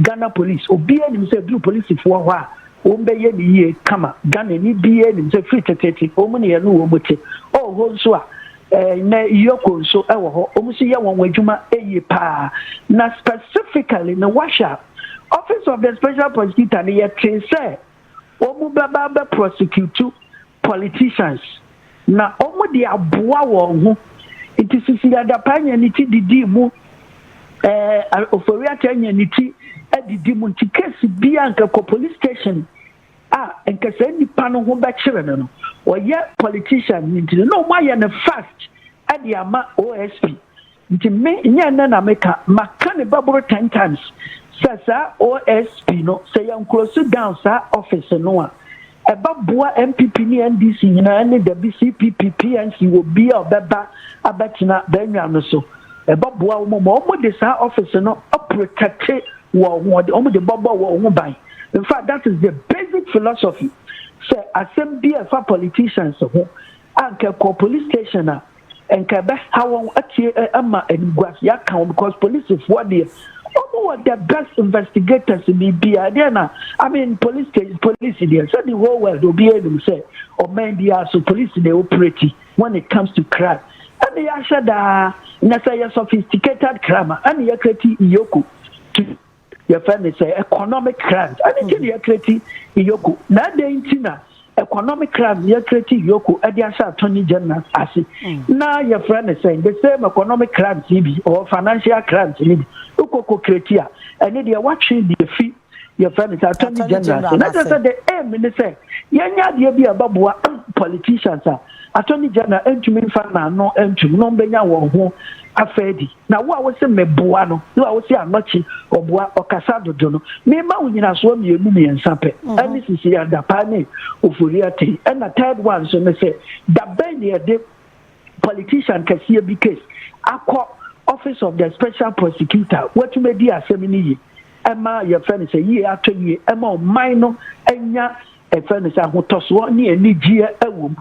ghana police obiara nim sɛ duru polisifoɔ hɔ a wɔn bɛyɛ ne yie kama ghana ni biara nim sɛ firi teteete wɔn ne yɛn no wɔn te ɔwɔ hɔ nso a Nnɛ Yoko nso wɔ hɔ. Wɔn nso yɛ wɔn adwuma yie paa. Na specifically no woahwɛ a, Office of the Special Prosecutor no yɛtee sɛ wɔn bɛba abɛ prosecute politicians. Na wɔn de aboa wɔn ho. Nti Sisi Adapaa anya ne ti didii mu, ɛɛ Ofori-Atta anya ne ti adidi mu. Nti case biara nka kɔ police station a nka saa nipa no ho bɛkyere no no ɔyɛ politician nti no na ɔmo ayɛ no fast ɛde ama OSP nti me nyɛ nnɛ na meka maka ne bɛboro ten times sɛ saa OSP no sɛ yɛn close down saa office no a ɛbɛboa NPP ne NDC nyinaa ne dabi CPP PNC wɔ bi a ɔbɛba abɛtena bɛnwa no so ɛbɛboa wɔn ma wɔn de saa office no aprotɛte wɔn ho wɔn de bɔbɔ wɔn ho ban. in fact that is the basic philosophy sɛ asɛm bi a ɛfa politicians ho a nka ɛkɔ police station a nka ɛbɛha wɔn atie ama animguase aka wɔn because policefoɔ deɛ wɔn wɔ the best investigators ni bia deɛ na i mean police station police deɛ sɛ the whole world obi anim sɛ ɔman bi aso police na operate when it comes to crime ɛna yɛahyɛ daa na sɛ yɛ sophisticated crime ɛna yɛkreti iyoko to yɛfrɛ ne sɛ economic crime ɛne nti na yɛkreti iyoko na adɛn nti na economic crime yɛkreti iyoko ɛde ahyɛ attorney general ase mm. na yɛfrɛ ne sɛ the same economic crimes yi bi or financial crimes yi bi wokɔkɔ kreti a ɛne deɛ watwe deɛ fi yɛfrɛ ne sɛ attorney general ase na kyerɛ sɛ the aim ne sɛ yɛnyɛ adeɛ bi a ɛbɛboa politicians a attorney general ntumi mfa n'ano ntum no mbɛnya wɔn ho afɛ adi Na wo a wose meboa no ne wo a wose anɔkye ɔboa ɔkasa dodo no, mema wo nyinasoɔ mmienu mmiɛnsa pɛ, ɛne sisi adapaa ne ofori atee. Ɛna third one nso ne sɛ, da bɛn ne yɛde politician kɛseɛ bi case akɔ office of the special prosecutor a watumi adi asɛm no yie ɛma yɛfrɛ no sɛ yie atɔ yie ɛma ɔman no anya ɛfrɛ no sɛ ahotɔsoɔ ne anigyeɛ ɛwɔ mu.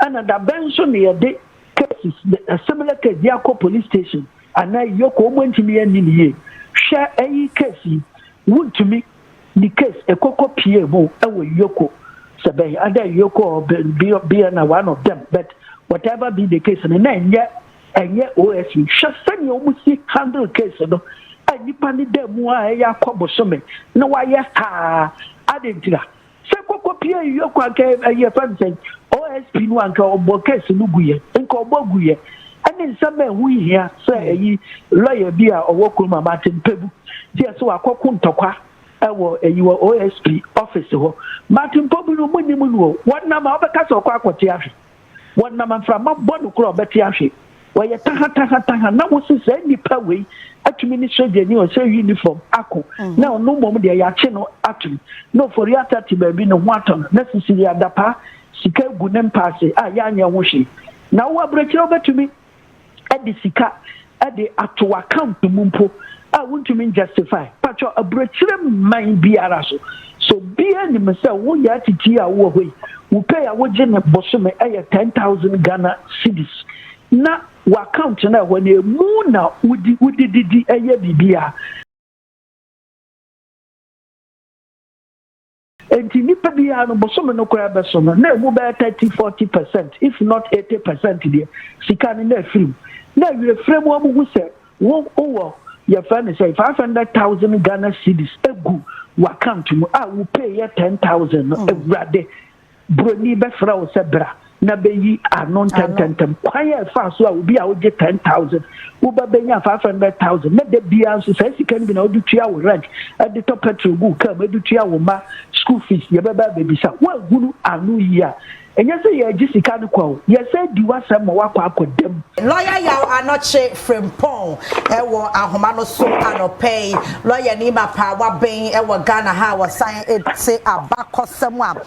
Ɛna da bɛn nso na yɛde cases, a similar case de akɔ police station anaa Iyoko wɔn antumi anni no yie. Hwɛ ɛyi case yi, wontumi de case ɛkɔkɔ PA mu ɛwɔ Iyoko sɛ bɛn, either Iyoko or BN or one of them but whatever be the case no na ɛnyɛ ɛnyɛ OSP. Hwɛ sɛnea wɔn si handle case no a nipa ne da mu a ɛyɛ akɔ bosome na wayɛ haa adentira. Sɛ koko pie yi yɔkɔ anka ɛyi yɛfrɛ no sɛn OSP no anka ɔbɔ case no gu yɛ nka ɔbɔ gu yɛ ɛne nsɛm bɛn ho hia sɛ ɛyi lawyer bi a ɔwɔ kurom a mate mpɛbu ti ɛsɛ wakɔ ko ntɔkwa ɛwɔ ɛyi wɔ OSP office hɔ mate mpɔbu no mo nim no o wɔnam a ɔbɛka sɛ ɔkɔ akɔte ahwe. Wɔnam mframa bɔ no koro a ɔbɛte ahwe. Wɔyɛ tahatahataha na wosi saa nnipa wei atumi ne sogyani a ɔhyɛ uniform ako mhm. na ɔno mmom deɛ yɛakye no atom na ofori ata te baabi ne ho atɔ no na sisiri adapaa sika gu ne mpaase a yɛanyɛ ho hwee na wo aburokyerɛ wobɛtumi de sika de ato w'account mu mpo a wontumi njustify, pakyɛ aburokyire mman biara so, so obiara nim sɛ wo yaa titii a wowɔ hɔ yi, wo pay a wogye no bosome yɛ ten thousand Ghana cedis, na w'account no a ɛhɔ no emu na wodi, wode didi, yɛ biribiara. Enti nipa biara no bosome no koraa bɛso no na ɛmu bɛyɛ thirty forty percent if not eighty percent deɛ sika no na ɛfiri mu na awie frɛ mu a wɔhu sɛ wo wowɔ yɛfrɛ no sɛ five hundred thousand Ghana cedis egu w'account mu a wo pay yɛ ten thousand no awurade Buroni bɛfrɛ wo sɛ bra na beyi ano ntɛntɛntɛm. Kwan a ɛfaa so a obi a ogye ten thousand wo ba benya five hundred thousand na da biara nso saa sika no bi na wode tua wo rent, de tɔ pɛtrol gu wo kaa mu, de tua wo mma sukuu fees, yɛbɛba abebisa wo. Woahunu ano yi a, ɛnyɛ sɛ yɛregye sika no kwa o, yɛresan adi w'asɛm ma woakɔ akɔda mu. Lɔya Yaw Anokye Frimpong wɔ ahoma no so anɔpa yi. Lɔyani mapaawa bɛn wɔ Ghana ha a wɔsan te abakɔsɛm a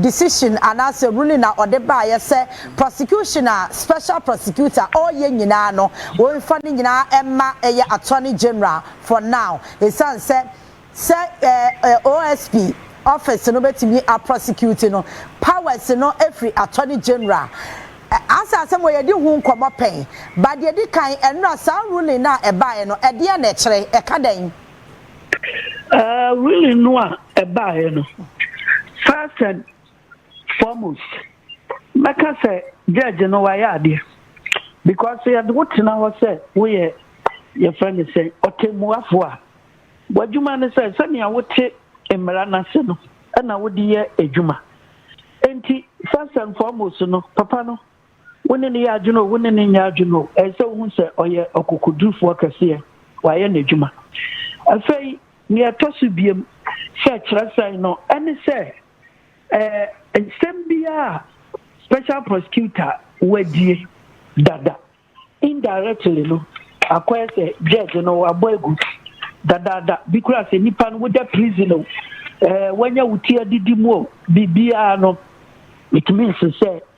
decision anaasɛ ruling a ɔde baeɛ sɛ prosecution a special prosecutor ɔreyɛ nyinaa no wɔmfa ne nyinaa mma ɛyɛ attorney general for now ɛsiane sɛ sɛ OSP office no bɛtumi a prosecute no powers no firi attorney general Asa asɛm wɔ yɛdi ho nkɔmmɔ pɛn but deɛ ɛdi kan ɛnora saa ruling no a ɛbaeɛ no ɛdeɛn na ɛkyerɛ ɛka dɛn? Ɛɛ wili no a ɛbaeɛ no first and foremost mɛka sɛ judge no wayɛ adeɛ because yɛde wo tena hɔ sɛ woyɛ yɛfrɛ no sɛ ɔtɛmmuafoɔ a w'adwuma no sɛ sɛnea wote mmara no ase no ɛna wode yɛ adwuma nti first and foremost no papa no Wo ne no yɛ adwene o, wo ne no nyɛ adwene o, ɛsɛ sɛ wuhu sɛ ɔyɛ ɔkokodurufo kɛseɛ, wayɛ n'adwuma. Afei, nea ɛtɔ so biom sɛ kyerɛsɛn no, ɛne sɛ ɛɛ nsɛm biara a Special Prosecutor wadie dada, indirectly no, akɔyɛ sɛ Judge no wabɔ agu dadaada. Bi koraa sɛ nipa no woda prison o, ɛɛ wanya wo ti adidi mu o, biribiara no, it means sɛ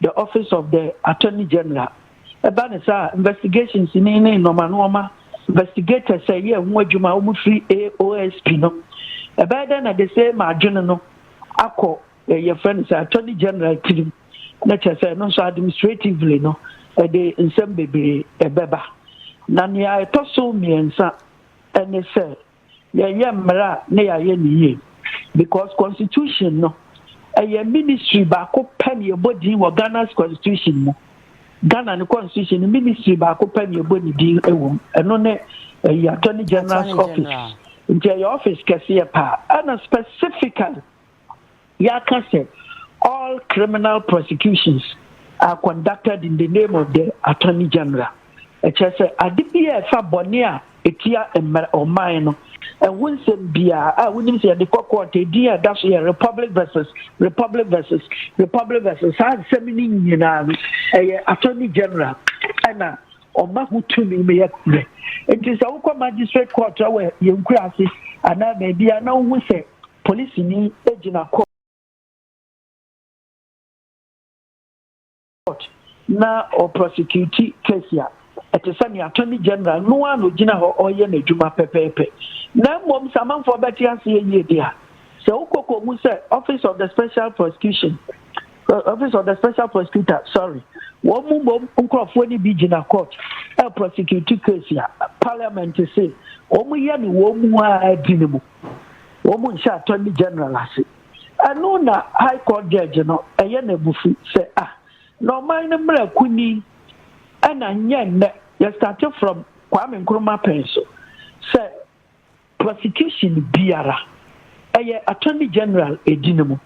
The Office of the Attorney General, ɛba no saa a, investigations ni ne nnoɔma nnoɔma investigators a ɛyɛ ho adwuma a wɔfiri AOSP no, ɛbɛyɛ dɛn na de sɛ ma adwene no akɔ eh, yɛfrɛ no sɛ Attorney General tirim, na kyerɛ sɛ ɛno nso administratively no ɛde nsɛm bebree ɛbɛba. Na nea ɛtɔ so mmiɛnsa ɛne sɛ Yɛyɛ mmara a na yɛayɛ no yie because constitution no ɛyɛ ministry baako pɛ na yɛbɔ din wɔ Ghana's constitution mu. Ghana ne constitution no ministry baako pɛ na yɛbɔ ne din wɔ mu. Ɛno ne ɛyɛ attorney general's office. Nti ɛyɛ office kɛseɛ paa ɛna specifically yɛaka sɛ all criminal prosecutions are conducted in the name of the Attorney General. Ɛkyerɛ sɛ ade bi a ɛfa bɔne a ɛtia mmerɛ ɔman no ɛho nsɛm biara a wonim sɛ yɛde kɔ court ɛdin a ɛda so yɛ Republic versus Republic versus Republic versus saa nsɛm no nyinaa no ɛyɛ Attorney General ɛna ɔma ho tumi no yɛ korɛ nti sɛ wokɔ magistrate court wɔ yɛn nkura ase anaa baabi a na wohu sɛ Polisini gyina kɔɔt na ɔprɔsekiuti keesi a, ɛte sɛ nea Attorney General no ara na ogyina hɔ reyɛ n'adwuma pɛpɛɛpɛ. Na mmom sɛ amanfoɔ bɛte aseɛ yie deɛ a, sɛ wokɔ kɔhu sɛ Office of the Special Prosecution, Office of the Special Prosecutor, sorry, wɔn mmom nkurɔfoɔ no bi gyina kɔɔt reprɔsekiuti keesi a, Parliament se wɔyɛ no wɔn mu ara di no mu. wɔn nhyɛ attorney general ase. Ɛno na high court judge no ɛyɛ no abufu sɛ ah na ɔman no mmra kunni ɛna nyɛ nnɛ yɛ starte from Kwame Nkrumah pɛn so sɛ prosecution biara ɛyɛ attorney general ɛdi no mu.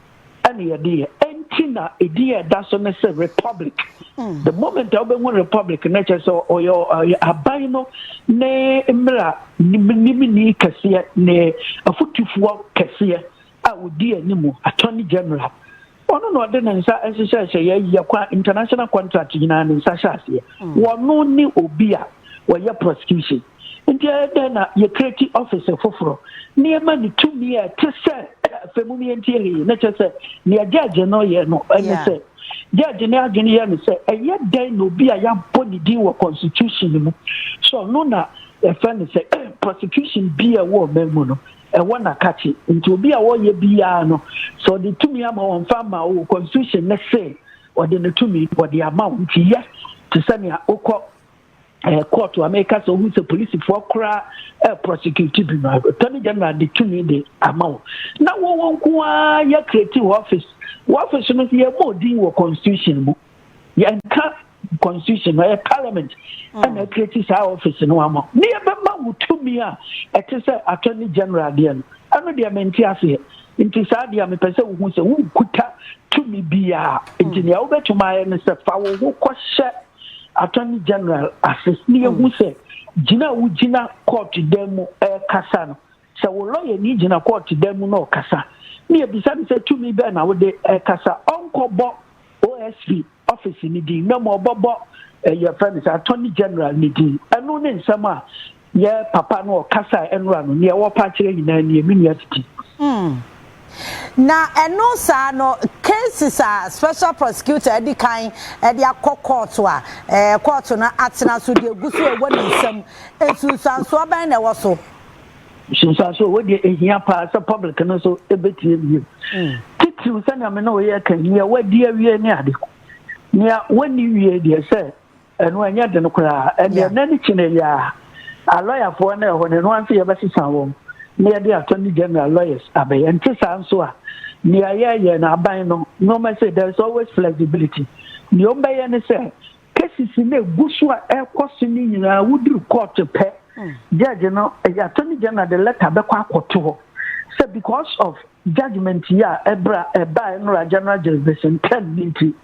ɛna yɛde yɛ ɛnti na edin a ɛda so ne sɛ republic mm. the moment a wobɛhu republic no kyerɛ sɛ ɔyɛ aban no ne mmera nimni kɛseɛ ne afotufoɔ kɛseɛ a ɔdi anim attorney general ɔno na ɔde ne nsa nhyehyɛ hyɛ yɛyɛ kwa international contract nyinaa ne nsa hyɛ aseɛ mm. wɔno ne obi a wɔyɛ prosecution Enti ɛyɛ dɛn na yɛkreti ɔfese foforo na yɛma no tumi a ɛte sɛ afei mum yɛntie he? Na kyerɛ sɛ nea gyɛɛgye no yɛ no ne sɛ gyɛɛgye ne adwene yɛ no sɛ ɛyɛ dɛn na obi a yɛabɔ ne din wɔ constitution no mu sɛ ɔno na yɛfrɛ no sɛ prosecution bi a ɛwɔ ɔman mu no ɛwɔ n'akakye nti obi a wɔyɛ biara no sɛ ɔde tumi ama wɔn fa ma o constitution ne se ɔde ne tumi ɔde ama wɔn nti yɛ te sɛ nea wokɔ ɛɛ eh, court a mɛka sɛ ohun sɛ polisifoɔ koraa ɛɛ eh, prosecute bi no attorney general de tumi de ama wo na wɔwɔ nko ara yɛ create wɔ office wɔ office no yɛ bɔ odin wɔ constitution mu yɛnka constitution ɛyɛ parliament mm. ɛna create saa office no ama ne yɛ bɛma wo tumi a ɛte sɛ attorney general deɛ no ɛno deɛ mente aseɛ nti saa deɛ mepɛ sɛ wohu sɛ wonkuta tumi biara nti mm. nea wobɛtumi ayɛ no sɛ fa wo ho kɔhyɛ attorney general ase na yɛhu mm. sɛ gyina a wogyina court dan mu ɛrekasa no sɛ wo lɔyɛ ni gyina court dan mu na ɔkasa na yɛbisa no sɛ tumi bɛn na wode ɛrekasa ɔnkɔbɔ osp office no din na ma ɔbɔbɔ ɛyɛ eh, fɛ no sɛ attorney general no din ɛno ne nsɛm a Yɛ papa no ɔkasa a ɛnora no, nea wɔrepɛ akyerɛ nyinaa nie, me nua titi. Hmm. Na ɛno saa no, cases a special prosecutor adi kan de akɔ kɔɔto a eh, kɔɔto no atena so deɛ gu so ɛwɔ ne nsam, nsunsuansoɔ bɛn na ɛwɔ so? Nsunsuansoɔ wɔ deɛ ɛhia paa sɛ public no nso ɛbɛtie wie. Mm. Titiriw sɛnea me ne wo yɛ ka yi, nea wadi awie ne ade. Nea wɔnni wie deɛ sɛ Ɛno ɛnyɛ den koraa. Ɛndeɛ nnɛ ne kyene yi ara, alɔyafoɔ no ɛhɔ no, ɛno ara nso yɛbɛsesa wɔn na yɛde Attorney General lawyers abɛyɛ. Ɛnte saa nso a, nea yɛreyɛ no, aban no, nnoɔma sei, there is always flexibility. Nea wɔbɛyɛ ne sɛ, cases no a ɛgu so a ɛrekɔ so no nyinaa, woduru court pɛ, judge no, ɛyɛ Attorney General de letter bɛkɔ akɔto hɔ sɛ because of judgement yi a ɛbra ɛbaa Nnora General Jurisdiction term no nti,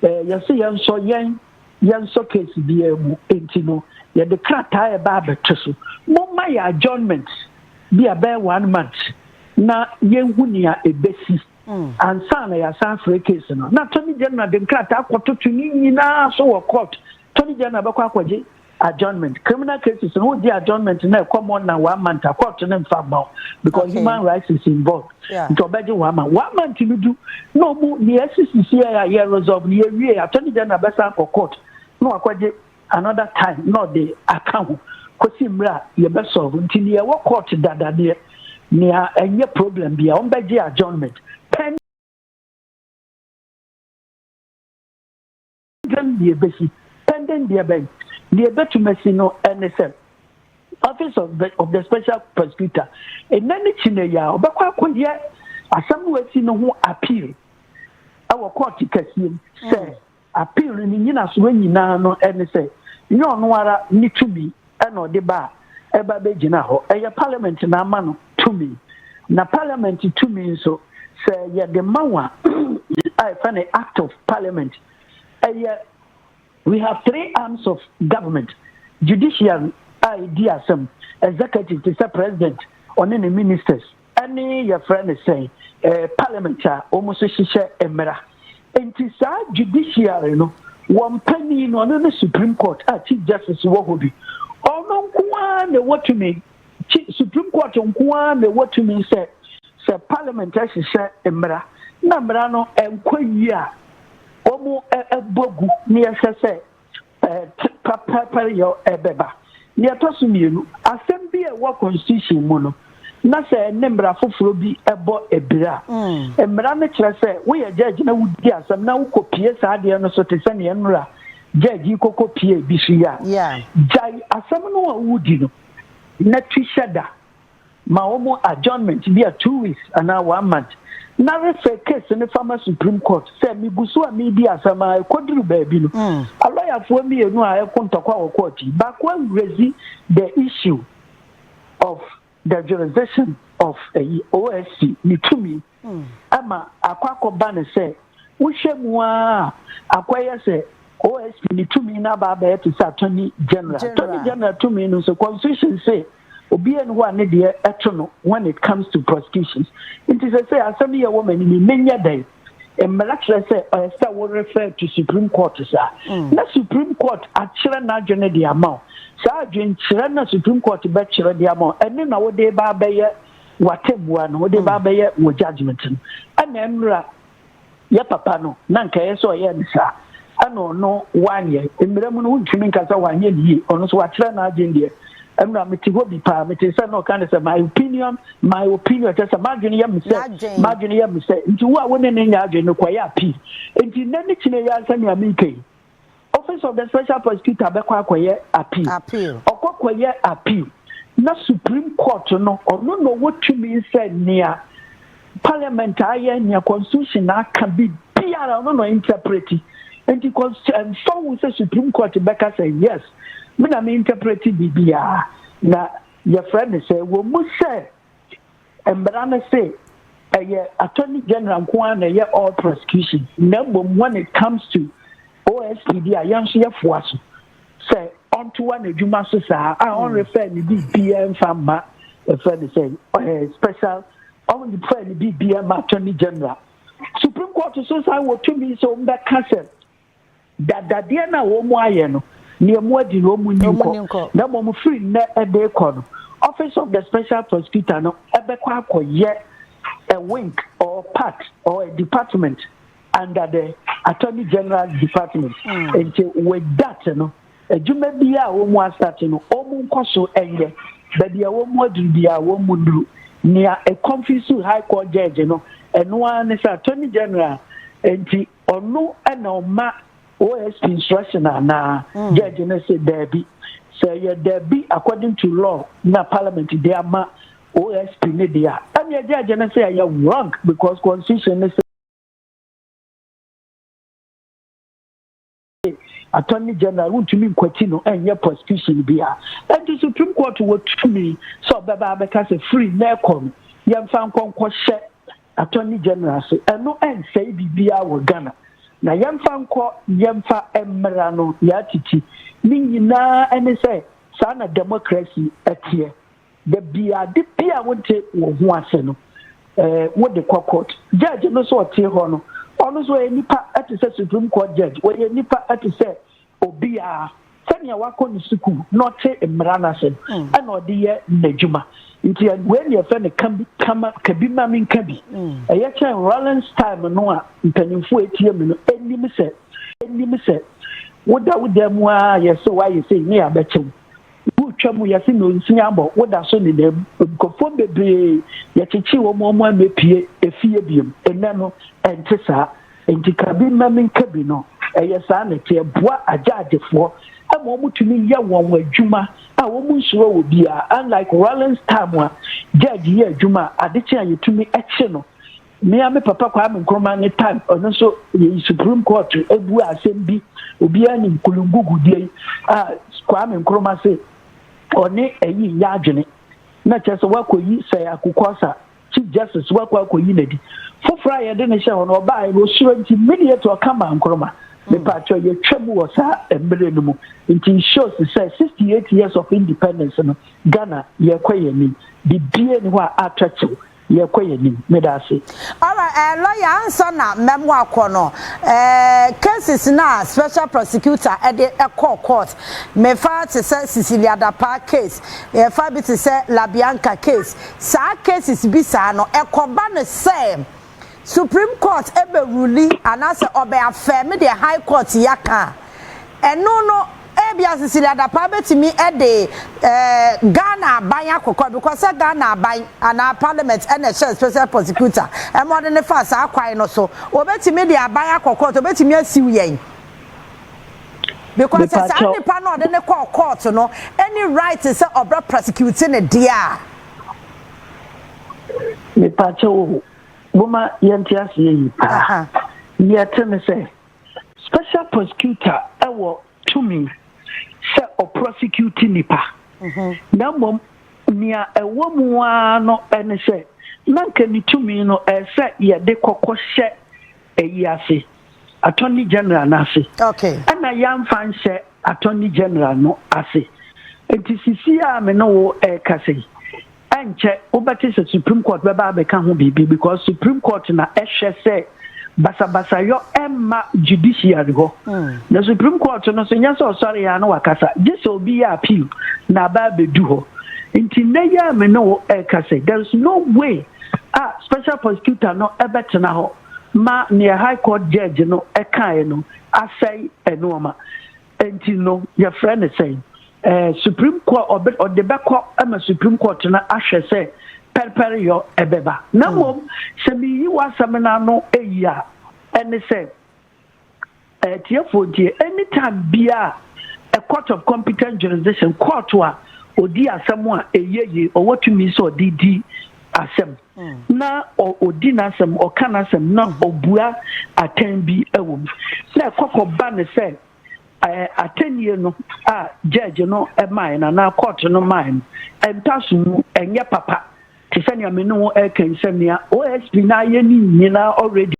eh, yɛse yɛnsɔ yɛn yɛnsɔ case biara mu nti no yɛde krataa a ɛbaa bɛto so momma yɛ adjournment bi a bɛyɛ one month na yɛnhu nea ɛbɛsi hmm. ansa na yɛasan frɛ case no na tony general de nkrataa kɔtoto ne nyinaa so wɔ court tony general bɛkɔ akɔgye adjournment criminal cases no wodi adjournment na ɛkɔ more than one month a court no mfa mma wo because okay. human rights is involved yeah. nti ɔbɛgye one month one month no du na ɔmu ne ɛsisisi a yɛ resolve ne yɛwie attorney general bɛsan kɔ court na wakɔgye another time na ɔde aka ho kɔsi mmerɛ a yɛbɛsolve nti ne yɛwɔ court dada neɛ nea ɛnyɛ problem bia ɔmbɛgye adjournment Dɛn na ebesi? Dɛn na ɛbɛn? Nea ebetumi asi no ne sɛ, Office of the, of the Special Prosecutor, ɛnnɛ ne kyinɛyi a, ɔbɛkɔ akɔyɛ asɛm no asi no ho appeal wɔ kɔɔte kɛseɛ mu sɛ appeal no ne nyinasoɔ nyinaa no ne sɛ nyɛ ɔno ara ne tumi na ɔde ba a ɛba bɛgyina hɔ. Ɛyɛ Parliament na ama no tumi. Na Parliament tumi nso, sɛ yɛde ma wɔn a, a yɛfrɛ no Act of Parliament, ɛyɛ We have three arms of government, judiciary a ɛdi asɛm, executive te sɛ President, ɔne ne ministers, ɛne yɛfrɛ no sɛn eh, parliament a wɔn nso hyehyɛ mmara nti saa judiciary no wɔn panin no ɔno ne supreme court a chief justice wɔ hɔ bi ɔno nko ara na ɛwɔ tumi supreme court nko ara na ɛwɔ tumi sɛ sɛ parliament ahyehyɛ mmara na mmara no nkɔ yie a wɔn ɛbɔ gu na yɛhwɛ sɛ pɛrpɛrpɛryɛ bɛba. Nea ɛtɔ so mmienu, asɛm bi a ɛwɔ constitution mu no, na sɛ ɛne mmara foforɔ bi bɔ abira a, mm. mmara no kyerɛ sɛ woyɛ judge na wodi asɛm na wokɔpie saa adeɛ no so te sɛ nea nnora judge yi kɔkɔpie bi so yi a, gyae asɛm no a wodi no na tu hyɛ da. ma wɔn adjournment bi a two weeks anaa one month na refɛ case no fama supreme court sɛ megu so a medi asɛm a ɛkɔduru baabi no mm. alɔyafoɔ mmienu a ɛko ntɔkwa wɔ court yi baako awurasi the issue of the jurisdiction of ɛyi osc ne tumi Ɛma Akwaa kɔ ba no sɛ, wohwɛ mu ara a, Akwaa yɛ sɛ OSP no tumi no aba abɛyɛ te sɛ Attorney General. Attorney General tumi no nso, Constitution se obiara nni hɔ a ne deɛ ɛto no when it comes to prosecutions. Nti seesei asɛm yi a ɛwɔ m'anim yi, menyɛ dɛn? Mmara kyerɛ sɛ ɛsɛ sɛ wo refer to Supreme Court saa, na Supreme Court akyerɛ n'adwene de ama wo. Saa adwenkyerɛ no a Supreme Court bɛkyerɛ de ama wo, ɛno na wode reba abɛyɛ w'atɛnbua no wode ba bɛyɛ wɔ judgment no ɛna mmira yɛ papa no na nka ɛyɛ sɛ ɔyɛ ne saa ɛna ɔno wanyɛ mmira mu no wontumi nka sɛ wanyɛ ne yie ɔno so wakyerɛ n'adwene deɛ ɛna mete hɔ bi paa mete sɛ na ɔka ne sɛ my opinion my opinion kyɛ sɛ m'adwene yɛ me sɛ m'adwene yɛ me sɛ nti wo a wo ne ne nyɛ adwene no kɔyɛ apii nti nnɛ ne kyinɛ yɛ ansa nea meka yi Office of the Special Prosecutor bɛkɔ akɔyɛ appeal. Appeal. Ɔkɔ kɔyɛ appeal na Supreme Court no ɔno na ɔwɔ tumi sɛ nea Parliament ayɛ, nea Constitution aka bi biara ɔno na ɔinterpreti. Nti cons ɛmfa ho sɛ Supreme Court bɛka sɛ yes me na me interpreti biribiara na yɛfrɛ no sɛ wɔ mu sɛ Mmara no se ɛyɛ Attorney General nko ara na ɛyɛ all prosecution na mmom when it comes to OSP bi a yɛn nso yɛfoa so sɛ ɔntoa n'adwuma so saa a ɔnrefɛ ne biribiara mfa mma ɛfɛ ne sɛ ɔyɛ special ɔnrefɛ ne biribiara ma Attorney General. Supreme Court so san wɔ tumi sɛ wɔbɛka sɛ Da dadeɛ no a wɔn ayɛ no, nea wɔn adi no, wɔn nni nkɔ, na mmom firi nnɛ de rekɔ no, Office of the Special Prosecutor no bɛkɔ akɔyɛ a wink or part or a department under the Attorney General's Department. Nti with that no, adwuma biara a wɔn asate no, wɔn nkɔ so nyɛ. Baabi a wɔn aduru biara, wɔn nnuru. Nea ɛconfuse High Court Judge no, ɛno ara ne sɛ Attorney General nti ɔno na ɔma OSP instruction anaa mm. judge no sɛ daabi sɛ yɛ daabi according to law na parliament de ama OSP ne deɛ a ɛnneɛ judge no sɛ ɛyɛ wrong because constitution no sɛ Attorney General wontumi nkwati no nyɛ prosecution bi a ɛnti Supreme Court wɔ tumi sɛ ɔbɛba abɛka sɛ firi nnɛ rekɔ no yɛmfa nkɔ nkɔhyɛ Attorney General ase. Ɛno ɛnsɛe biribiara wɔ Ghana na yɛmfa nkɔ yɛmfa mmara no yɛatiti. Ne nyinaa ne sɛ saa na democracy teɛ. Da bi ade bi a wonte wɔ ho ase no, eh, wode kɔ court. Judge no nso ɔte hɔ no, ɔno nso ɔyɛ nipa te sɛ Supreme Court Judge. Wɔyɛ nipa te sɛ obiara. Sɛnea wakɔ ne sukuu na ɔte mmara no ase no, mm. ɛna ɔde yɛ n'adwuma. Nti wei ne yɛfɛ no ka bi ma menka bi. Mm. Ɛyɛ kyɛn Rollins time no a mpanyimfoɔ etie me no, enim sɛ, enim sɛ, woda wo dan mu ara yɛ sɛ woayɛ sei ne yɛabɛkyɛ wo. Wotwa mu, yɛse nonsin abɔ, woda so nena mu. Nkurɔfoɔ bebree, yɛkyekyee wɔn ma wɔn ammɛpue efie biom. Nnɛ no, ɛnte saa. Enti ka bi mma menka bi no, ɛyɛ saa na ɛteɛ. Ɛboa agyaagyefoɔ ma wɔn tumi yɛ wɔn adwuma a wɔn nsuro obiara. Unlike Rawlings time a judge yɛ adwuma a, ade kye a yɛtumi kye no Me ara me papa Kwame Nkrumah ne tan ɔno nso yɛyi Supreme Court bua asɛm bi obiara nim kulungugu deɛ yi a Kwame Nkrumah se ɔne ayi nyɛ adwene na kyerɛ sɛ wakɔyi sɛ akukɔsa Chief Justice wakɔ akɔyi n'adi foforɔ a yɛde ne hyɛ hɔ no ɔbaa no ɔsuro nti immediate ɔka maa Nkrumah mepatwɛ yɛtwa mu wɔ saa mmerɛ no mu nti shows sɛ 68 years of independence no Ghana yɛkɔ yɛn anim bibie ne hɔ a atwa kyew Yɛ kɔ yɛ nim me daase. Alright eh lawyer ansa na mɛ mo akɔ no eh cases na special prosecutor ɛde ɛkɔ court me fa te sɛ Cecilia Dapaah case yɛ fa bi te sɛ La Bianca case saa cases bi saa no ɛkɔ ba no sɛ supreme court ɛbɛ ruli anaa sɛ ɔbɛ affirm deɛ high court yɛ aka a ɛno no Ebia Cecilia Dapaah betumi de Ghana aban akokɔ because sɛ Ghana aban anaa parliament na ɛhyɛɛ special prosecutor ma ɔde no faa saa kwan no so. Obetumi de aban akɔ court, obetumi asiw yɛn because sɛ saa Mepakyɛw. nipa no a ɔde no kɔɔ court no nni right sɛ ɔbɛ prosecute no deɛ a. Mepakyɛw o, momma yɛnte aseɛ yie paa. Aha. Deɛ ɛte ne sɛ. Special prosecutor wɔ tumi sɛ ɔprɔsecute nnipa, na mmom nea ɛwɔ mu ara no ne sɛ na nka ne tumi no ɛsɛ sɛ yɛde kɔkɔ hyɛ ayi ase, Attorney General no ase. Okay. Ɛna yɛamfa nhyɛ Attorney General no ase. Nti sisi a me ne wo ɛrekasa yi, Ɛnkyɛ wobɛte sɛ Supreme Court bɛba abɛka ho biribi because Supreme Court na ɛhwɛ sɛ basabasayɔ ɛmma judiciary hɔ. Na Supreme Court no nso nyɛ sɛ ɔsɔre yɛ a na wakasa, gye sɛ obi yɛ appeal na aba abɛdu hɔ. Nti nnɛ yi a me ne wo ɛreka sɛ there is no way a Special Prosecutor no ɛbɛtena hɔ ma nea High Court Judge no ɛkaeɛ no asɛe nnoɔma. Enti no yɛfrɛ no sɛn? Ɛɛ Supreme Court ɔbɛ ɔde bɛkɔ ma Supreme Court no ahwɛ sɛ pɛrepɛreyɔ ɛbɛba. Na mmom sɛ meyi w'asɛm no ano eyi a, ɛne sɛ, atiefoɔ ntie, any time biara a Court of Competent Jurisdiction, kɔɔto a ɔdi asɛm a ɛyɛ yie, ɔwɔ tumi sɛ ɔde di asɛm. na ɔdi n'asɛm, ɔka n'asɛm, na ɔbua atɛn bi wɔ mu. Na ɛkɔkɔ ba ne sɛ atɛnnie no a gyɛɛgye no mae no anaa kɔɔto no mae no, ntaso mu ɛnyɛ papa te sɛ nea me ne wo ɛka yi sɛ nea OSP no ayɛ ne nyinaa already.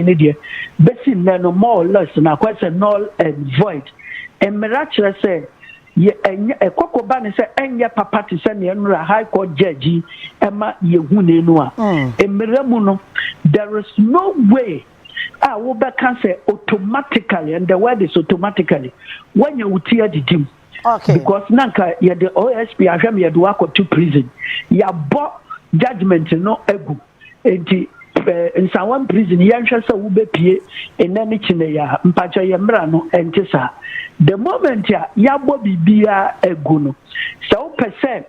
ne deɛ bɛsi nnɛ no more or less no akɔyɛ sɛ null and void. Mmara kyerɛ sɛ yɛ ɛnyɛ ɛkɔkɔ ba ne sɛ ɛnyɛ papa te sɛ nea nnora High Court Judge yi ɛma yɛhunee no a. Mmara mu no, there is no way a wobɛka sɛ automatically, and the word is automatically, woanya wo ti adidi mu. Okay. Because na nka yɛde OSP ahwɛ me yɛde wakɔto prison. Yɛabɔ judgment no agu. Enti pɛ Nsawam prison yɛnhwɛ sɛ wobɛpue nnɛ ne kyeneɛ a. Mpakyɛ yɛ mmra no ɛnte saa. The moment a yɛabɔ biribiara agu no, sɛ wopɛ sɛ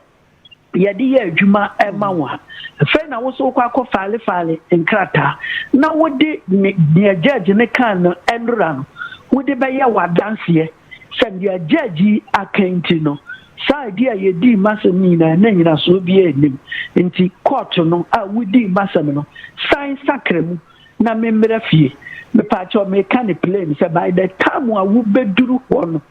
yɛde yɛ adwuma ma wo a, ɛfei na wo so wokɔ akɔ file file nkrataa na wode ne deɛ judge no kaa no nnora no wode bɛyɛ w'adanseɛ. Sɛnea Judge yi aka nti no, saa adi a yedii m'asɛm no nyinaa na nnyinasoɔ biara nnim. Nti Court no a wodii m'asɛm no, san sakra mu na memmra fie. Mepaakyɛw meka no plain sɛ by the time a wobeduru hɔ no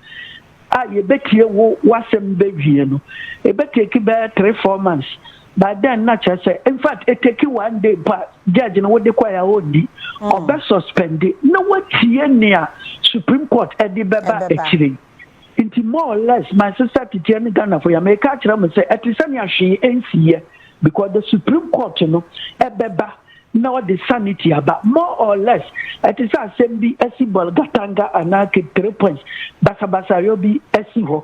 a yebetie wo w'asɛm bewie no, ebetake bɛyɛ three four months. By then na kyerɛ sɛ infact eteki one day mpo a judge no wode kɔɛ a ɔndi, ɔbɛ suspendi na watie nea supreme court ɛde bɛba akyire yi. Nti more or less my sister titiɛ ne Ghanafo ya meeka akyerɛ mo sɛ ɛte sɛnea hwee ɛnsiiɛ because the supreme court no ɛbɛba na ɔde sanity aba more or less ɛte sɛ asɛm bi asi bɔl gatanga anaa keep three points basabasayɔ bi asi hɔ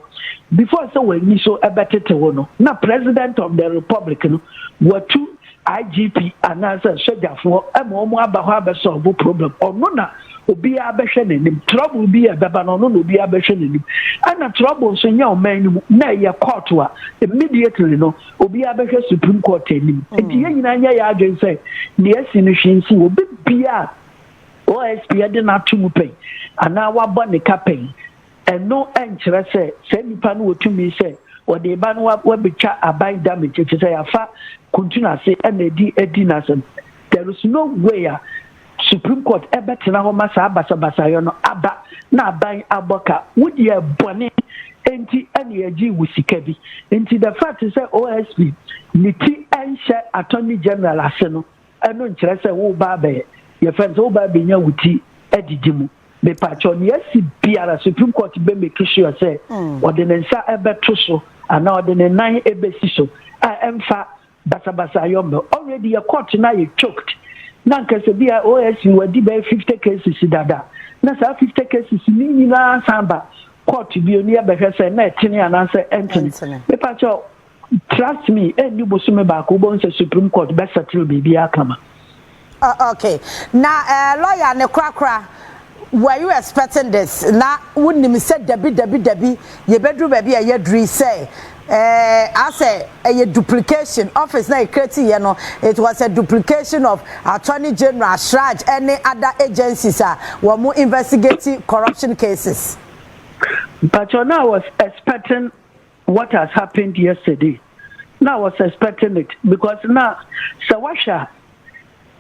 before sɛ w'ani so ɛbɛtete wo no na president of the republic no watu IGP anaasɛ sogyafoɔ ma wɔn aba hɔ abɛsɔlbo problem ɔno na obiara bɛhwɛ n'anim trouble bi a ɛbɛba no ɔno na obiara bɛhwɛ n'anim ɛna trouble nso nyɛ ɔman no mu na ɛyɛ court a immediately no obiara bɛhwɛ supreme court anim nti hmm. yɛn nyinaa nyɛ yɛ adwene sɛ nea asi no hwee nsi obi bia osp de no ato mu pɛn anaa wabɔ ne ka pɛn ɛno nkyerɛ sɛ saa nipa no wɔtumi sɛ wɔde ba no wabɛtwa aban damage ɛfiri sɛ yɛafa kuntunu ase ɛna ɛdi ɛdi n'asɛm there is no way a Supreme court ɛbɛtena hɔ ma saa basabasayɔ no aba na aban abɔ ka, wodeɛ bɔne nti ɛna yɛgyee wo sika bi nti the fact sɛ OSP ne ti ɛnhyɛ Attorney General ase no ɛno nkyerɛ sɛ woreba abɛyɛ yɛfrɛ no sɛ woreba abɛnya wo ti adidi mu. Mepakyɛw nea asi biara Supreme court bɛ make sure sɛ ɔde ne nsa ɛbɛto so anaa ɔde ne nan ɛbɛsi so a ɛmfa Basabasa yɛ ɔmɛ already yɛ court no ayɛ choked na anka sɛ bi a OSC wadi bɛyɛ fifty cases dada na saa fifty cases no nyinaa san ba court bio na yɛbɛhwɛ sɛ na ɛtene anaasɛ ɛntene. Me pa kyɛw trust me ɛnni bosome baako wobɛhu sɛ supreme court bɛ settle biribiara kama. Oh okay na eh lawyer no korakora were you expecting this na wo nim sɛ dabi dabi dabi yɛbɛduru baabi a yɛaduru yi sɛ eh asɛ ɛyɛ duplication office na yɛ create yɛ no it was a duplication of attorney general shraj ɛne other agencies a wɔn mo investigate corruption cases. Mpakyɛw na I was expecting what has happened yesterday na I was expecting it because na sɛ wahwɛ a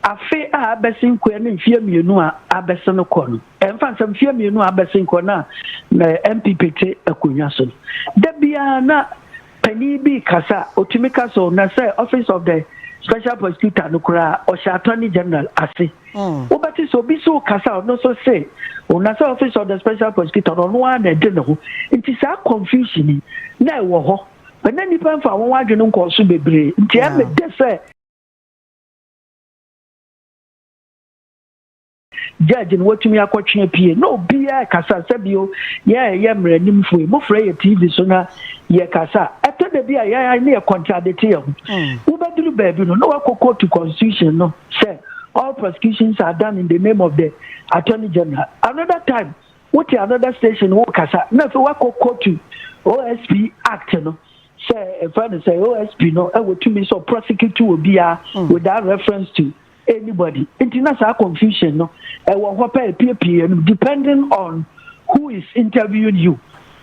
afe a abɛsen kɔ ne mfeɛ mmienu a abɛsen kɔ no ɛmfa nsɛm mfeɛ mmienu a abɛsen kɔ na na MPP te akonnwa so no da biara na panin bi kasa otumi kasa o na sɛ office of the special prosecutor no koraa ɔhyɛ attorney general ase. Wobɛte sɛ obi so rekasa a ɔno nso se, oh, na sɛ office of the special prosecutor no ɔno ara na ɛde ne ho. Nti saa confusion yi na ɛwɔ hɔ. But na nnipa mfa wɔn adwene nkɔɔ so bebree. Nti ɛmɛ dɛ sɛ judge no watumi akɔtwe apue na obiara rekasa sɛ bio yɛn a ɛyɛ mmaranimfo yi mofrɛ yɛ TV so na yɛkasa. Ɛtɔ da bi a yɛn ne yɛ contradicte yɛn ho. Wobɛduru baabi no na wakɔ kootu constitution no sɛ all prosecutions are done in the name of the attorney general another time wote another station wo kasa na afei wakɔ kɔtu osp act no sɛ ɛfɛ no sɛ osp no ɛwɔ tumi sɛ prosecute wɔ biara mm. without reference to anybody nti na saa confusion no ɛwɔ hɔ pɛ epiepie no depending on who is interviewing you.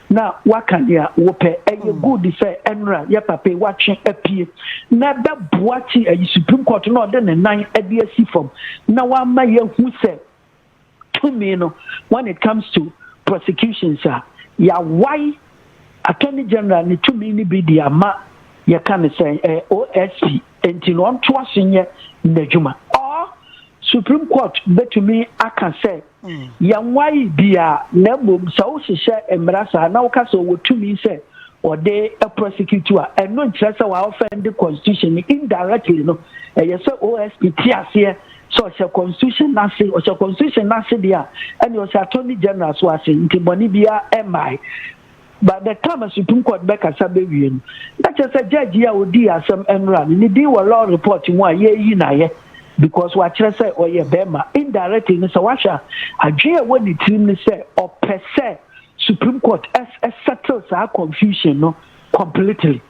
na waka nea wopɛ. Ɛyɛ mm. good sɛ ɛnora yɛ papa yi watwe apue na ɛbɛboa ti ayi supreme court na ɔde ne nan de asi fam na wama yɛhu sɛ tumi no when it comes to prosecutions a yɛawae attorney general ne tumi no bi de ama yɛka ne sɛ eh, osp nti na ɔntoa so nyɛ n'adwuma or supreme court bɛtumi aka sɛ Yɛanwae biaa, na mmom sɛ wohyehyɛ mmara saa na woka sɛ ɔwɔ tumi sɛ ɔde prosecute a, ɛno nkyerɛ sɛ wa offend constitution no indirectly no. Ɛyɛ sɛ OSP te aseɛ sɛ ɔhyɛ constitution no ase. Ɔhyɛ constitution no ase deɛ a, ɛnneɛ ɔhyɛ Attorney General nso ase, nti bɔne biaa mmae. By the time Supreme Court bɛkasa bɛwie no, na kyerɛ sɛ judge yi a ɔdii asɛm nnora no, ne din wɔ law report mu a yɛreyi no ayɛ because wakyerɛ sɛ ɔyɛ bɛrima. Indirectly no, sɛ woahwɛ a, adwene a ɛwɔ ne tirim ne sɛ ɔpɛ sɛ Supreme Court settle saa confusion no completely.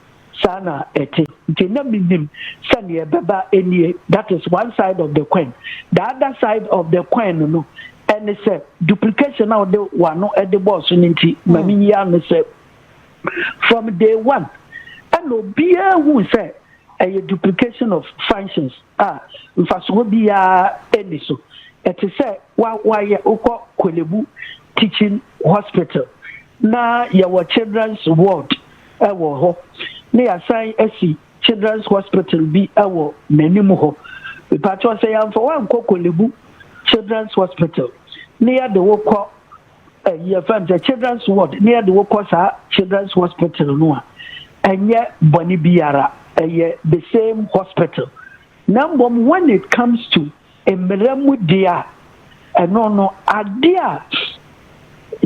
Saa na ɛte. Nti na menim sɛ neɛ ɛbɛba nie, that is one side of the coin. The other side of the coin no no, ɛne sɛ duplication a wode w'ano de bɔɔ so no nti ma hmm. meyi ano sɛ from day one ɛna obiara hu sɛ ɛyɛ duplication of functions a mfasoɔ biara ɛni so ɛte sɛ wayɛ wokɔ kwelebu teaching hospital na yɛwɔ children's ward wɔ hɔ na yɛasan asi children's hospital bi wɔ m'anim hɔ. Mepakyɛw sɛ yɛamfa wo ankɔ Korle-Bu children's hospital na yɛde wo kɔ eh, yɛfrɛ no sɛ children's ward na yɛde wo kɔ saa children's hospital no a, ɛnyɛ bɔne biara, ɛyɛ the same hospital. Na mmom when it comes to mmara mu deɛ a, ɛno no ade a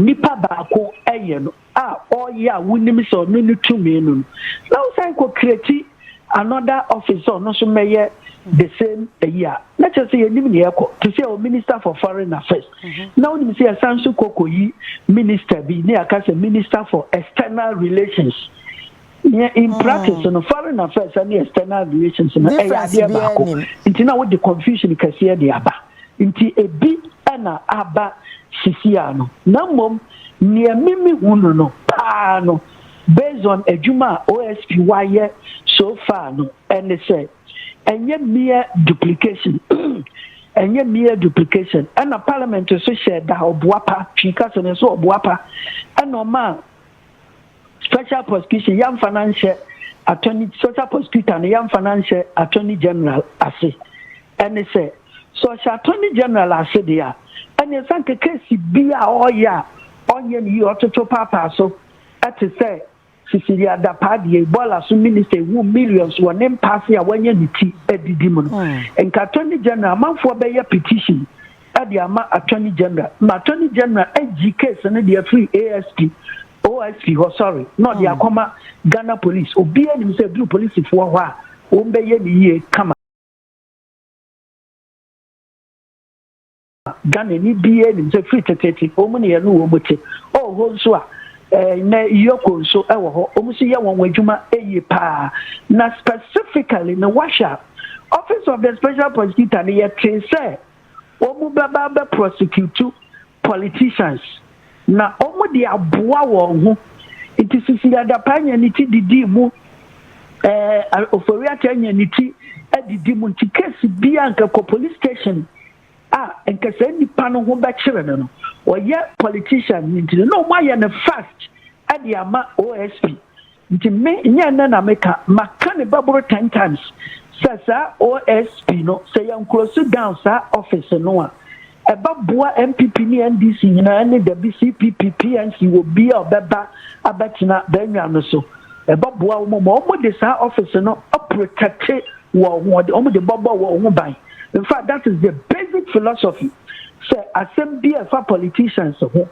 nipa baako yɛ no a ɔyɛ a wonim sɛ ɔno ne tumi no no na wosan kɔ create another office sɛ ɔno nso mmɛyɛ the same ayi a na kyerɛ sɛ yɛnim ne yɛkɔ te sɛ o minister for foreign affairs mm-hmm. na wonim sɛ yɛsan nso kɔkɔ yi minister bi ne yɛaka sɛ minister for external relations Yɛ in practice hmm. no foreign affairs ne external relations no ɛyɛ adeɛ baako nti na wode confusion kɛseɛ de aba nti ebi ɛna aba sisi a no na mmom nea mimi hu no no paa no based on adwuma a osp wayɛ so far no ɛne sɛ ɛnyɛ mere duplication ɛnyɛ mere duplication ɛna parliament so hyɛ da ɔboapa twi kasa no nso ɔboapa ɛna ɔma special prosecution yɛmfa no nhyɛ attorney special prosecutor no yɛmfa no nhyɛ attorney general ase ɛne sɛ sɛ ɔhyɛ attorney general ase deɛ a ɛne ɛsan ka kesi bi a ɔreyɛ a ɔnyɛ ne yie ɔtoto paapaa so ɛte sɛ Cecilia Dapaah deɛ Ebola so minister ewu millions wɔ ne mpaase a wanya ne ti adidi mu no hmm. nka attorney general amanfoɔ bɛyɛ petition ɛde ama attorney general ma attorney general agyi case no deɛ firi ASP OIC hɔ sɔre na ɔde akɔma Ghana Police. Obiara nim sɛ ɛduru polisifoɔ hɔ a, wɔbɛyɛ ne yie kama. Ghanani biara nim sɛ firi teteete wɔn ne yɛne wɔn te. Ɔwɔ hɔ nso a, nnɛ Yoko nso wɔ hɔ, wɔn nso yɛ wɔn adwuma yie paa. Na specifically no, woahwɛ a, Office of the Special Prosecutor no, yɛtee sɛ wɔn bɛba abɛ prosecute politicians na wɔn de aboa wɔn ho nti sisi adapa anya ne ti didii mu ɛɛ ofori ata anya ne ti adidi mu nti case bi a nkɛkɔ police station a nkɛsɛ nipa no ho bɛkyerɛ no no wɔyɛ politician nti na wɔn ayɛ no fast ɛde ama OSP. Nti me nyɛ nnɛ na meka, maka ne baboro ten times sɛ saa OSP no sɛ yɛn close down saa office no a, ɛbɛ boa NPP ne NDC nyinaa ne dabi CPP, PNC, wɔ bi a ɔbɛba abɛ tena bɛnwa no so. Ɛbɛ boa wɔn ma wɔn de saa office no aprotɛkte wɔn ho, wɔn de bɔbɔ wɔn ho ban. In fact that is the basic philosophy sɛ asɛm bi a ɛfa politicians ho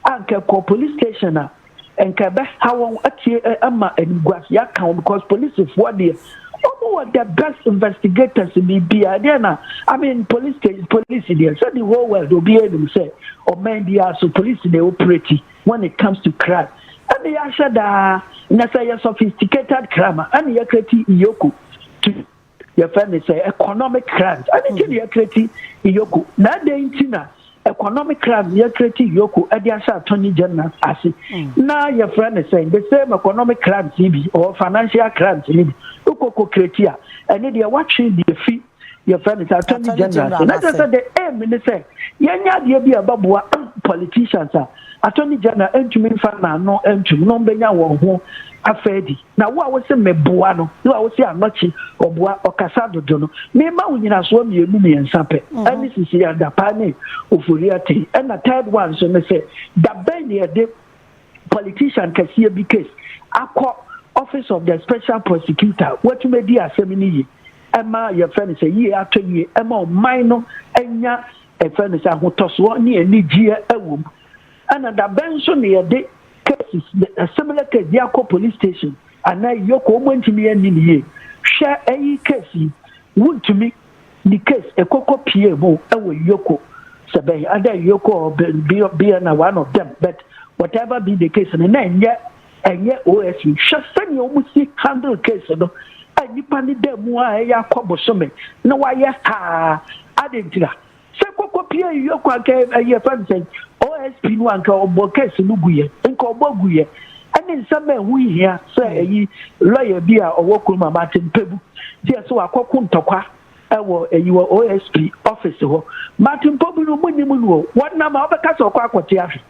a nka ɛkɔ police station a, nka ɛbɛha wɔn atie eh, ama animguase aka wɔn because polisifoɔ deɛ wɔn wɔ the best investigators ni bia ɛdeɛ na i mean police station police deɛ sɛ the whole world obiara anim sɛ ɔman biara so police na operate when it comes to crime ɛna yɛahwɛ daa na sɛ yɛ sophisticated crime a ɛna yɛkreti iyoko to Yɛfrɛ ne sɛ economic crimes. Ɛno nti na yɛkreti Iyoko. Na adɛn nti na economic crimes yɛkreti Iyoko de ahyɛ attorney general ase? Na yɛfrɛ ne sɛ the same economic crimes yi bi or financial crimes yi bi. Wokɔkɔ kreti a, ɛno deɛ woatwe de afi yɛfrɛ ne sɛ attorney general ase. Na kyerɛ sɛ the aim ne sɛ yɛnyɛ adeɛ bi a ɛbɛboa politicians a attorney general ntumi mfa n'ano ntom no bɛnya wɔn ho afɛdi. Na wo a wose meboa no ne wo a wose anɔkye ɔboa ɔkasa dodo no, mema wo nyinasoɔ mmienu mmiɛnsa pɛ, ɛne sisi adapaa ne oforiaten. Ɛna third one nso ne sɛ, da bɛn na yɛde politician kɛseɛ bi case akɔ office of the special prosecutor a watumi adi asɛm no yie ɛma yɛfrɛ no sɛ yie atɔ yie ɛma ɔman no anya ɛfrɛ no sɛ ahotɔsoɔ ne anigyeɛ ɛwɔ mu. Ɛna da bɛn nso na yɛde cases a similar case de akɔ police station anaa iyoko wɔn ntumi anni ne yie hwɛ ɛyi case yi wontumi ne case ɛkɔkɔ pie mu ɛwɔ iyoko sɛ bɛn ada iyoko bia na one of them but whatever be the case no na ɛnyɛ ɛnyɛ os hwɛ sɛnea wɔn si handle case no a nipa ne da mu a ɛyɛ akɔ bosome na wayɛ saa adentira Sɛ koko pie yi yɔ kwa nka ɛyi yɛfrɛ no sɛn OSP no a nka ɔbɔ case no guyɛ nka ɔbɔ guyɛ ɛne nsɛm a ɛho nhia sɛ hmm. ɛyi lɔya bi a ɔwɔ kurom ama ate mpɛbu deɛ sɛ wakɔko ntɔkwa ɛwɔ ɛyi wɔ OSP office hɔ mate mpɔbu no mu nim no wɔnam a wɔbɛka sɛ ɔkɔ akɔte ahwe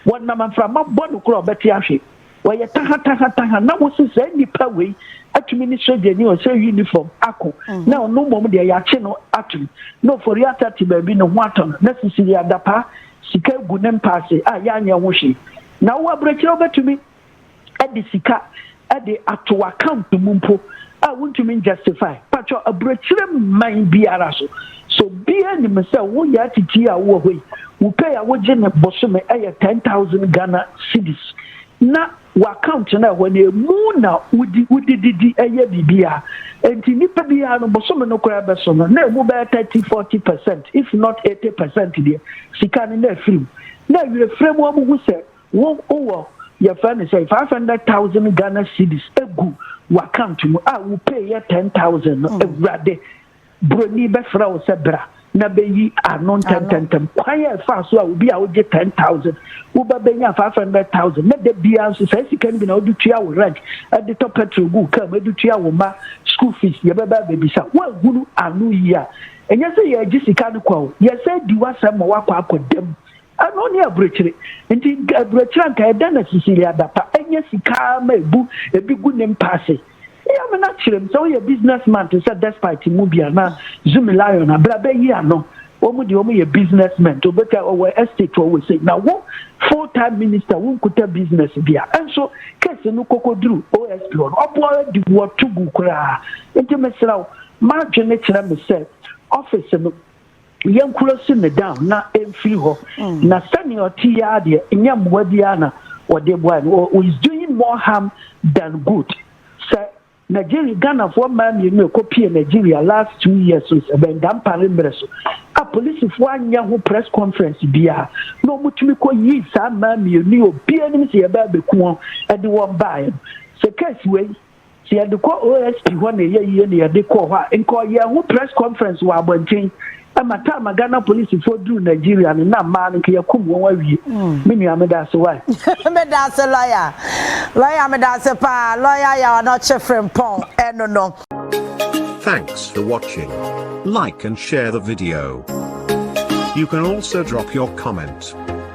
Wɔnam mframa bɔ no koro a ɔbɛte ahwe. Wɔyɛ taha-taha-taha na wosi saa nnipa wei atumi ne sogyani a ɔhyɛ unifɔm ako na ɔno mmom deɛ yɛakye no atom na oforiata te baabi ne ho atɔ no na sisiri adapaa sika gu ne mpaase a yɛanyɛ ho hwee. Na wowɔ aburokyire a wobɛtumi de sika de ato w'account mu mpo a wontumi njustify, pakyɛw aburokyire mman biara so sɛ obiara nim sɛ wo yaa titire a wowɔ hɔ yi wo pay a wogye no bosome yɛ ten thousand Ghana cedis na w'account no a ɛhɔ no ɛmu na wodi wodi didi yɛ biribiara enti nipa biara no bosome no koraa bɛso no na ɛmu bɛyɛ thirty forty percent if not eighty percent deɛ sika no na afiri mu na awerɛfirɛ mu wɔn ho sɛ Wo wowɔ yɛfrɛ no sɛn five hundred thousand Ghana cedis egu w'account mu a wo pay yɛ ten thousand no hmm. awurade broni bɛfrɛ wo sɛ bra na bɛyi ano ntɛntɛntɛm kwan a ɛfa so a obi a wogye ten thousand woba bɛnya five hundred thousand na da biara nso saa sika no bi na wode tua wo rent de tɔ petrol gu kaa mu de tua wo ma school fees yɛbɛba bɛbisa woahunu ano yi a ɛnyɛ sɛ yɛagye sika no kwa o yɛsɛ di w'asɛm ma woakɔ akɔdam Ɛno ne aburokyire. Nti aburokyire a nka ɛda na Cecilia adapa anya sika ara ma ebu ebi gu ne mpa ase. Eyi amena kyerɛ mu sɛ woyɛ business man te sɛ Despite mu bi anaa Zumi Lion a, bra bɛyi ano. Wɔn deɛ wɔyɛ business men nti obetua ɔwɔ estate ɔwɔ sei. Na wo full time minister wo nkuta business bi a. Nso case no kɔkɔduru OSP hɔ no ɔboa wo adi wo to gu koraa. Nti mesrɛ wo m'adwene kyerɛ me sɛ office no Yɛnkura si no down na ɛmfiri hɔ. Na sɛnea ɔte yi ara deɛ, nyɛ mmoa biara na wɔde boae no. Ɔ- Is doing more harm than good. Sɛ Nigeria, Ghanafoɔ mmaa mmienu a ɛkɔpie Nigeria last two years no, sɛ bɛn Dampare mmerɛ so, a polisifoɔ anyɛ ho press conference biara, na wɔtumi kɔyii saa mmaa mmienu yi, obiara nim sɛ yɛbaa bɛku wɔn de wɔn baeɛ no. Sɛ case wei, Sɛ yɛde kɔ OSP hɔ na ɛyɛ yie na yɛde kɔɔ hɔ a, nka ɔyɛɛ ho press conference wɔ abɔnten. Ɛma time a Ghana polisifoɔ duruu Nigeria no, na mmaa no nka yɛakum wɔn awie. Me nua, meda ase wae. Meda ase lɔya. Lɔya meda ase paa. Lɔya Yaw Anɔkye Frimpong ɛno no. Thanks for watching. Like and share the video. You can also drop your comment.